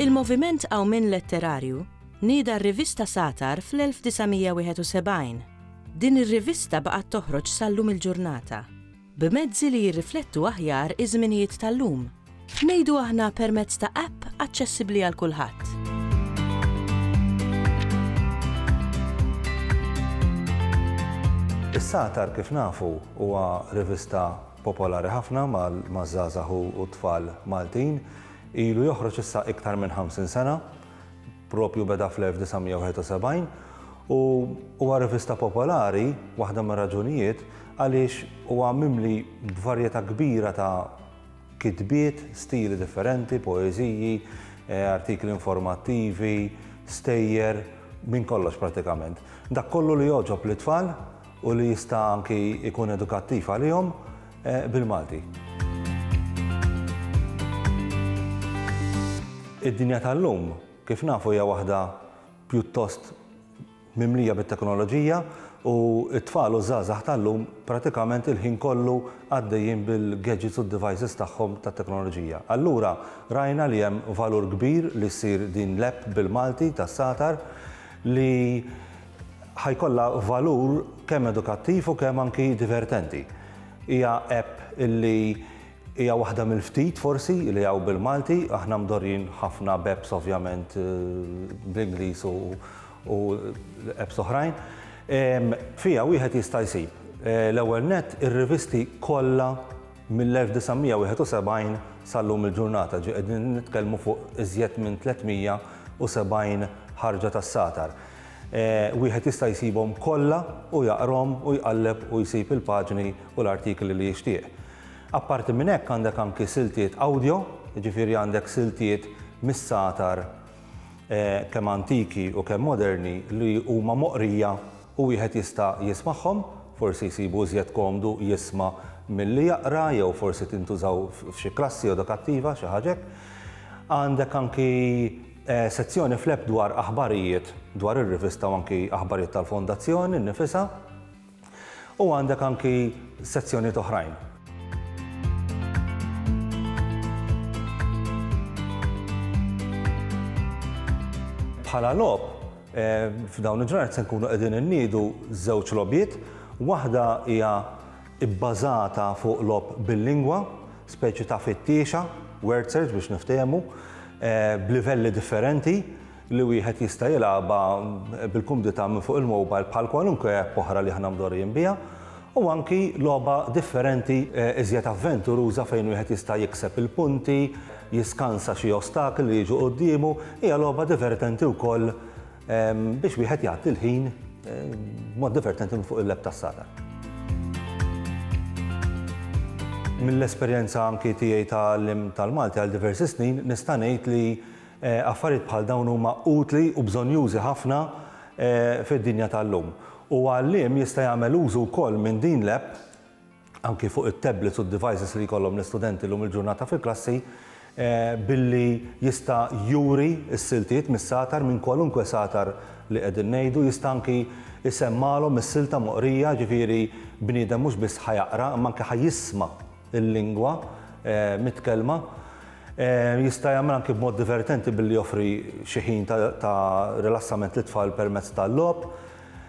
Il-moviment Qawmien Letterarju nieda r-rivista Satar fl-1971. Din ir-rivista baqgħet toħroġ sal-lum il-ġurnata. b'mezzi li jirriflettu aħjar iż-żminijiet tal-lum. Ngħidu aħna permezz ta' app aċċessibbli għal kulħadd. Is-Satar kif nafu huwa rivista popolari ħafna maż-żgħażagħ u t-tfal Maltin. Ilu joħroġ issa iktar minn 50 sena. Proprju beda fl-1971 u huwa rivista popolari, waħda mir-raġunijiet, għaliex huwa mimli b'varjetà kbira ta' kitbiet, stili differenti, poeżiji, artikli informattivi, stejjer, minn kollox prattikament. Dak kollu li jogħġob lit-tfal u li jista' anki jkun edukattiv għalihom. bil-Malti. Id-dinja tal-lum, kif nafu hija waħda pjuttost mimlija bit-teknoloġija u t-tfal u ż-żgħażagħ tal-lum pratikament il-ħin kollu għaddejjin bil-gadgets u d-devices tagħhom tat-teknoloġija. Allura rajna li hemm valur kbir li ssir din l-app bil-Malti tas-satar li Ħa jkollha valur kemm edukattiv u kemm anki divertenti. Hija app illi hija waħda mill-ftit forsi li hawn bil-Malti, aħna mdorrijin ħafna b'apps ovvjament bl-Ingliż u apps oħrajn. Fiha wieħed jista' jsib, l-ewwel nett, ir-rivisti kollha mill-1971 sal-lum il-ġurnata, ġifieri qegħdin nitkellmu fuq iżjed minn 370 ħarġa tas-satar. Wieħed jista' jsibhom kollha u jaqrahom u jqalleb u jsib il-paġni u l-artikli li jixtieq. Apparti minn hekk għandek anki siltiet awdjo, jiġifieri għandek siltiet mis-sagħtar kemm antiki u kemm moderni li huma moqrija u wieħed jista' jismagħhom, forsi jsibu iżjed komdu jisma' milli jaqra jew forsi tintużaw f'xi klassi edukattiva, xi ħaġa hekk. Għandek anki Sezzjoni fl-app dwar aħbarijiet dwar ir-rivista u anki aħbarijiet tal-Fondazzjoni nnifisha u għandek anki sezzjonijiet oħrajn. Bħala logħob, f'dawn il-ġranet se nkunu qegħdin inniedu żewġ logħbiet, waħda hija ibbażata fuq logħob bil-lingwa, speċi ta' fittiexa, word search biex niftehmu, b'livelli differenti li wieħed jista' jilgħabha bil-kumdità minn fuq il-mobile bħal kwalunkwe app oħra li aħna mdorrijin biha, u anki logħba differenti iżjed avventuruża fejn wieħed jista' jikseb il-punti, jiskansa xi ostakli li jiġu quddiemu, hija logħba divertenti wkoll Biex wieħed jgħaddi l-ħin b'mod divertenti minn fuq il-leb tas-Satan. Mill-esperjenza anki tiegħi ta' għalliem tal-Malti għal diversi snin nista' ngħid li affarijiet bħal dawn huma utli u bżonnjużi ħafna fid-dinja tal-lum. U għalliem jista' jagħmel użu wkoll minn din l-app anki fuq it-tablets u d-devices li jkollhom l-istudenti llum il-ġurnata fil-klassi billi jista' juri s-siltiet mis-satar minn kwalunkwe satar li qegħdin ngħidu, jista' anki jsemmagħlhom is-silta moqrija, ġifieri bniedem mhux biss ħa jaqra imma anki ħa jisma' l-lingwa mitkellma. Jista' jagħmel anki b'mod divertenti billi joffri xi ħin ta' rilassament lit-tfal permezz tal-logħob.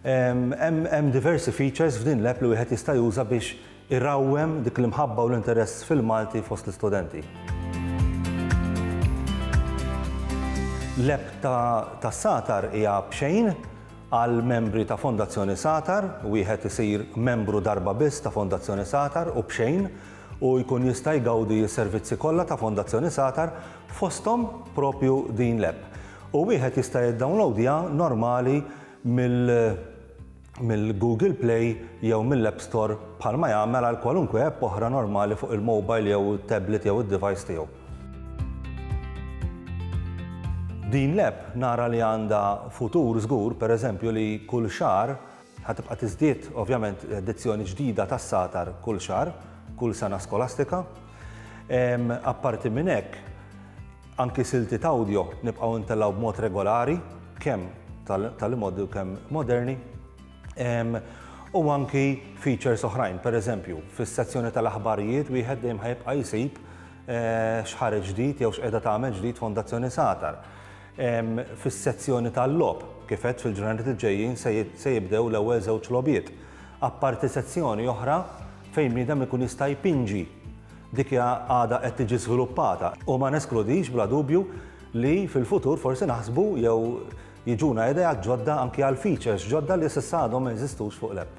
Hemm diversi features f'din l-app li wieħed jista' juża biex irawwem dik l-imħabba u l-interess fil-Malti fost l-istudenti. L-app ta' Satar hija b'xejn għal membri ta' Fondazzjoni Satar, wieħed isir membru darba biss ta' Fondazzjoni Satar u b'xejn u jkun jista' jgawdi s-servizzi kollha ta' Fondazzjoni Satar fosthom proprju din l-app, u wieħed jista' jiddownlowdja normali mill-Google Play jew mill-App Store bħalma jagħmel għal kwalunkwe app oħra normali fuq il-mobile jew it-tablet jew id-device tiegħu. Din l-app nara li għandha futur żgur, pereżempju li kull xahar, Ħa tibqa' tiżdied, ovvjament, edizzjoni ġdida tas-Satar kull xahar, kull sena skolastika. Apparti minn hekk, anki siltiet awdjo nibqgħu ntellgħu b'mod regolari, kemm tal-imgħoddi u kemm moderni. U anki features oħrajn, pereżempju, fis-sezzjoni tal-aħbarijiet wieħed dejjem ħa jibqa' jsib x'ħareġ ġdid jew x'qiegħda tagħmel ġdid Fondazzjoni Satar. Fis-sezzjoni tal-logħob, kif għedt fil-ġranet li ġejjin se jibdew l-ewwel żewġ logħbiet. Apparti sezzjoni oħra fejn bniedem ikun jista' jpinġi, dik għadha qed tiġi żviluppata u ma neskludix bla dubju li fil-futur forsi naħsbu jew jiġuna ideat ġodda anki għal features ġodda li s'issa għadhom ma jeżistux fuq l-app.